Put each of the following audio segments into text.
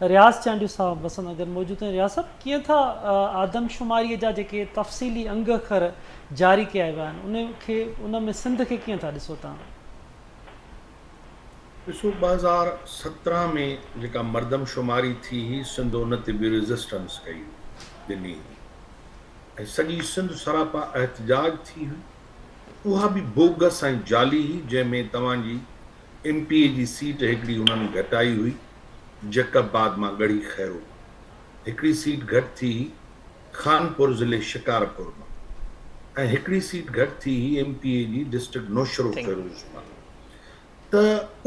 رياض چانڊيو صاحب وسند نگر موجود آهن رياض صاحب ڪيئن ٿا آدمشماري جا جيڪي تفصيلي انگ اکر جاري ڪيا ويا آهن ان کي ان ۾ سنڌ کي ڪيئن ٿا ڏسو تان. ڏسو ٻه هزار سترهن ۾ جيڪا مردم شماري ٿي هئي سنڌ ان تي به ريزسٽنس ڪئي هئي ڏني هئي ۽ سڄي سنڌ سراپا احتجاج ٿي هئي اها به بوگس ۽ جعلي هئي جنهن ۾ توهان جي ايم پي اي جي سيٽ هڪڙي انهن گهٽائي هئي جيڪب آباد مان ڳڙهي خيرو مان هڪڙي سيٽ گهٽ ٿي هئي، خانپور ضلعي شڪارپور مان ۽ هڪڙي سيٽ گهٽ ٿي هئي ايم پي اي جي ڊسٽرڪٽ نوشهروفيروز مان ته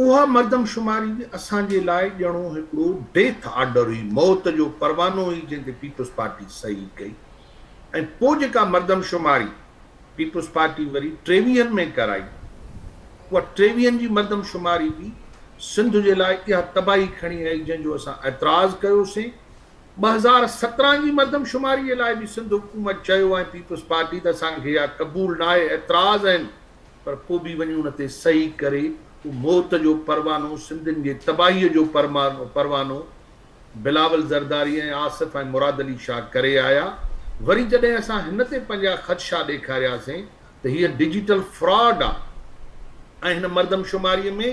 اها مردمشماري به اسان جي لاء ڄڻو هڪڙو ڊيٿ آرڊر هئي، موت جو پروانو هئي جنهن تي پيپلزپارٽي صحيح ڪئي. ۽ پوء جيڪا مردمشماري پيپلز پارٽي وري ٽيويهن ۾ ڪرائي، اها ٽيويهن جي مردمشماري به سنڌ جي لاء اها تباهي کڻي آئي جنهن جو اسان اعتراض ڪيوسين. ٻه هزار سترهن جي مردمشماري لاء به سنڌ حڪومت چيو ۽ پيپلز پارٽي ته اسان کي اها قبول ناهي، اعتراض آهن، پر پوء به وڃي ان تي صحيح ڪري اهو موت جو پروانو سنڌين جي تباهي جو پروانو بلاول زرداري ۽ آصف ۽ مراد علي شاهه ڪري آيا، وري جڏهن اسان هن تي پنهنجا خدشا ڏيکارياسين ته هيء ڊجيٽل فراڊ آ ۽ هن مردمشماري ۾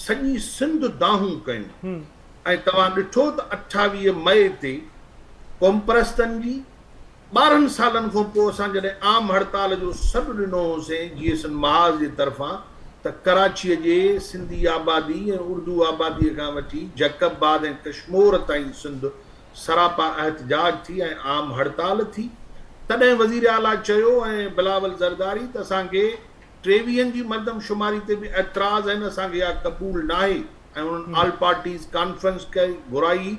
سڄي سنڌ دانهون ڪيون ۽ توهان ڏٺو ته اٺاويهه مئي تي قومپرستن جي ٻارهن سالن کان پوء اسان جڏهن عام هڙتال جو سڏ ڏنو هوسين جي ايس اين محاذ جي طرفان ته ڪراچيء جي سنڌي آبادي ۽ اردو آباديء کان وٺي جهڪ آباد ۽ ڪشمور تائين سنڌ سراپا احتجاج ٿي ۽ عام هڙتال ٿي تڏهن وزير اعليٰ چيو ۽ بلاول زرداري ته اسان کي ٽيويهن جي مردم شماري تي به اعتراض آهن اسان کي اها قبول ناهي ۽ انهن آل پارٽيز ڪانفرنس ڪئي گهرائي هئي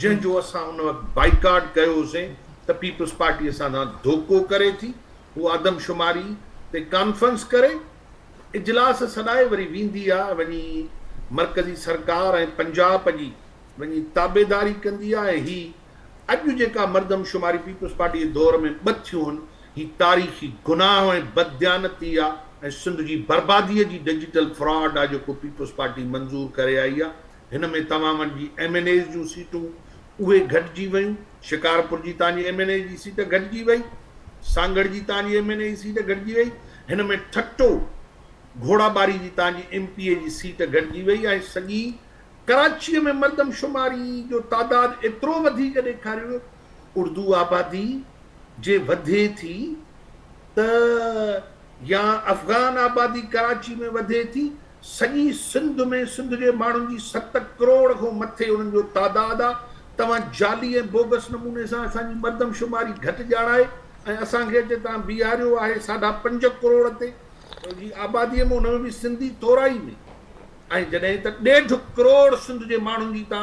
جنهن جو اسان ان وقت بائيڪاٽ ڪيو هوسين ته پيپلز پارٽي اسان سان ڌوڪو ڪري ٿي هو عدم شماري تي ڪانفرنس ڪري اجلاس سڏائي وري ويندي آ وڃي مرڪزي سرڪار ۽ پنجاب جي وڃي تابعداري ڪندي آ ۽ هي اڄ جيڪا مردم شماري پيپلز پارٽي جي دور ۾ ٻه ٿيون هن، هي تاريخي گناهه ۽ بدديانتي آ ۽ سنڌ جي بربادي جي ڊجيٽل فراڊ آ جيڪو پيپلز پارٽي منظور ڪري آئي آ، هن ۾ توهان وٽ جي ايم اين ايز جون سيٽون اهي گهٽجي ويون، شڪارپور جي توهان جي ايم اين اي جي سيٽ گهٽجي وئي، سانگهڙ جي توهان جي ايم اين اي جي سيٽ گهٽجي وئي، هن ۾ ٺٽو گهوڙا ٻاري جي توهان جي ايم پي اي جي سيٽ گهٽجي وئي ۽ سڄي ڪراچيء ۾ مردم شماري جو تعداد ايترو وڌيڪ ڏيکاريو ويو، اردو آبادي جي وڌي ٿي ته يا افغان آبادي ڪراچي ۾ وڌي ٿي، سڄي سنڌ ۾ سنڌ جي ماڻهن جي ست ڪروڙ کان مٿي انهن جو تعداد آ، توهان جعلي ۽ بوگس نموني سان اسان جي مردم شماري گهٽ ڄاڻائي ۽ اسان کي اچي تان بيهاريو آهي ساڍا پنج ڪروڙ تي. جي آباديء ۾ ان ۾ به سنڌي ٿورائي ۾. ۽ جڏهن ته ڏيڍ ڪروڙ سنڌ جي ماڻهن جي ته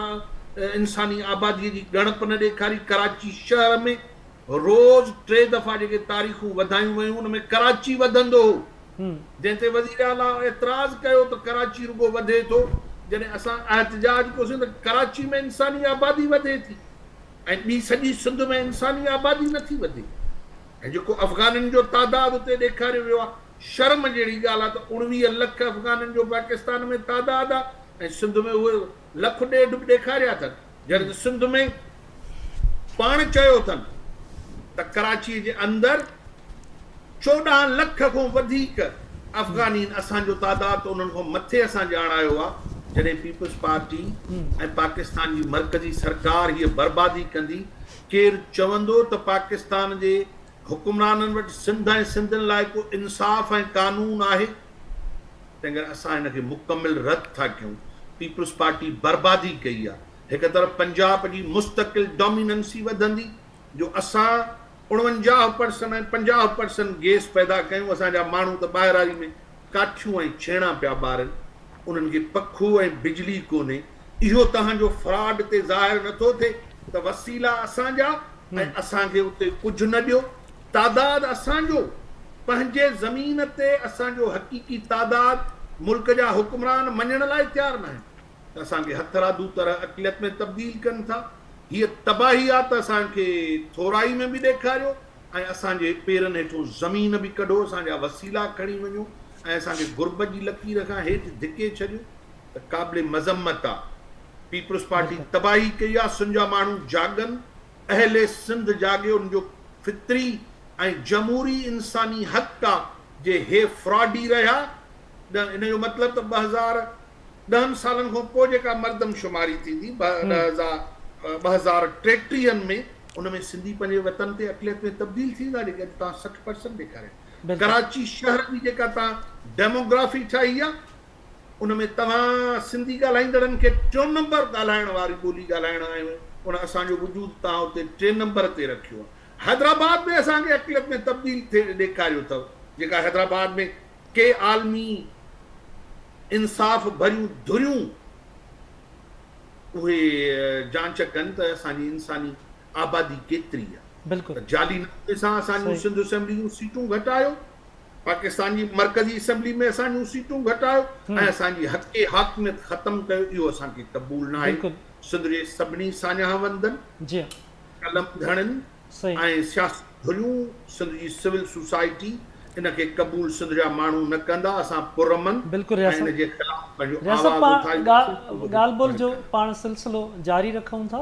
انساني آباديء جي ڳڻپ نه ڏيکاري، ڪراچي شهر ۾ روز ٽي دفعا جيڪي تاريخون وڌايون ويون ان ۾ ڪراچي وڌندو هو، جنهن تي وزير اعليٰ اعتراض ڪيو ته ڪراچي رڳو وڌي ٿو، جڏهن اسان احتجاج ڪيوسين ته ڪراچي ۾ انساني آبادي وڌي ٿي ۽ ٻي سڄي سنڌ ۾ انساني آبادي نٿي وڌي ۽ جيڪو افغانين جو تعداد اتي ڏيکاريو ويو آهي. شرم جهڙي ڳالهه آهي ته اڻويهه لک افغانن جو پاڪستان ۾ تعداد آهي ۽ سنڌ ۾ اهي لک ڏيڍ به ڏيکاريا اٿن جڏهن ته سنڌ ۾ پاڻ چيو اٿن ته ڪراچي جي اندر چوڏهن لک کون وڌيڪ افغانين اسان جو تعداد ته انهن کون مٿي اسان ڄاڻايو آهي جڏهن پيپلز پارٽي ۽ پاڪستان جي مرڪزي سرڪار هيء بربادي ڪندي ڪير چوندو ته پاڪستان جي حڪمرانن وٽ سنڌ ۽ سنڌين لاء ڪو انصاف ۽ قانون آهي؟ تنهن ڪري اسان ان کي مڪمل رد ٿا ڪيون، پيپلز پارٽي بربادي ڪئي آ، هڪ طرف پنجاب جي مستقل ڊوميننسي وڌندي جو اسان اڻونجاهه پرسن ۽ پنجاهه پرسن گيس پيدا ڪيون اسان جا ماڻهو ته ٻاهراري ۾ ڪاٺيون ۽ ڇيڻا پيا ٻارن، انهن کي پکو ۽ بجلي ڪونهي، اهو توهان جو فراڊ تي ظاهر نه ٿو ٿئي ته وسيلا اسان جا ۽ اسان کي اتي ڪجهه نه ڏيو، تعداد اسان جو، پنهنجي زمين تي اسان جو حقيقي تعداد ملڪ جا حڪمران مڃڻ لاء تيار ناهن. ته اسان کي هٿرادو طرح اقليت ۾ تبديل ڪن ٿا. هيء تباهي آ ته اسان کي ٿورائي ۾ به ڏيکاريو ۽ اسان جي پيرن هيٺون زمين به ڪڍو، اسان جا وسيلا کڻي وڃو ۽ اسان کي غربت جي لڪير کان هيٺ ڌڪي ڇڏيو ته قابل مذمت آ. پيپلز پارٽي تباهي ڪئي آ، سن جا ماڻهو جاڳن، اهل سنڌ جاڳي، ان جو فطري ۽ جمهوري انساني حق آ جي هي فراڊي رهيا نه، ان جو مطلب ته ٻه هزار ڏهن سالن کان پوء جيڪا مردم شماري ٿيندي ٻه هزار ٽيٽيهه ۾ ان ۾ سنڌي پنهنجي وطن تي اقليت ۾ تبديل ٿيندا جيڪي اڄ توهان سٺ پرسنٽ ڏيکاريا ڪراچي شهر جي جيڪا توهان ڊيموگرافي ٺاهي آ ان ۾ توهان سنڌي ڳالهائيندڙن کي ٽيون نمبر ڳالهائڻ واري ٻولي ڳالهائڻ آيون ان اسان جو وجود توهان اتي ٽين نمبر تي رکيو آ حيدرآباد ۾ اسان کي اقليت ۾ تبديل ٿي ڏيکاريو اٿو جيڪا حيدرآباد ۾ ڪي عالمي انصاف ڀريون ڌريون اهي جانچ ڪن ته اسان جي انساني آبادي ڪيتري آ ته جعلي نموني سان اسان جون سنڌ اسيمبلي جون سيٽون گهٽايو پاڪستان جي مرڪزي اسيمبلي ۾ اسان جون سيٽون گهٽايو ۽ اسان جي حقي حاڪميت ختم ڪيو اهو اسان کي قبول ناهي سڌري سڀني ساڃاهه وندن قلم ڌڻين سي. ۽ سياسي ڌريون سنڌ جي سول سوسائٽي ان کي قبول سنڌ جا ماڻهو نه ڪندا اسان پرامن بلڪل ۽ رياست ان جي خلاف پنهنجو رياست آواز پاڻ اٿارينداسين ڳالهه ٻولهه جو پاڻ سلسلو جاري رکون ٿا.